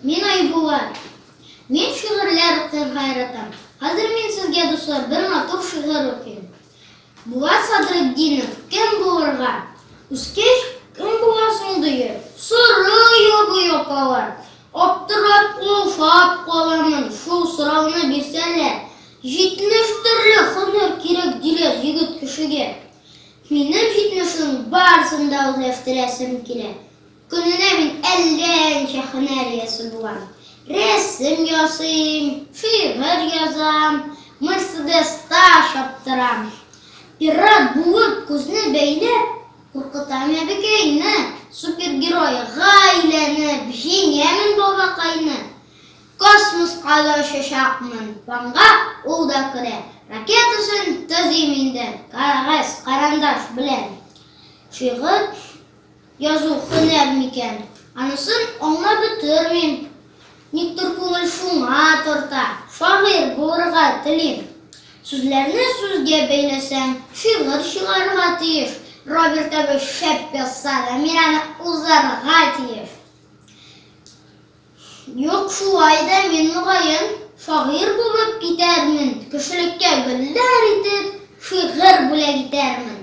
Мин Айбула. Мин шигырьләр укырга яратам. Хәзер мин сезгә, дуслар, бер матур шигырь укыйм. Булат Садретдинов кем булырга? Үскәч, кем буласың дигән сорау бу япалар. Аптырап, уфап каламын, шул сорауны бирсәләр. Җитмеш төрле һөнәр кирәк диләр егет кешегә. Минем җитмешнең барысын да үзләштерәсем килә. Көненә мин әллә ничә һөнәр иясе булам. Рәсем ясыйм, шигырь язам, Мерседеста чаптырам. Пират булып күзне бәйләп, куркытам әбекәйне, супергерой га әйләнеп җиңәмен бабакайны. Космоска да очачакмын, ванга ул да керә, ракетасын төзим инде кәгазь-карандаш белән. Шигырь. Язу һөнәр микән? Анысын аңлап бетермим. Никтер күңел шуңа тарта, шагыйрь булырга телим. Сүзләрне сүзгә бәйләсәң, шигырь чыгарга тиеш. Роберт абый шәп язса да, мин аны узарга тиеш. Юк, шулай да мин, мөгаен, шагыйрь булып китәрмен, кешелеккә гөлләр итеп, шигырь бүләк итәрмен.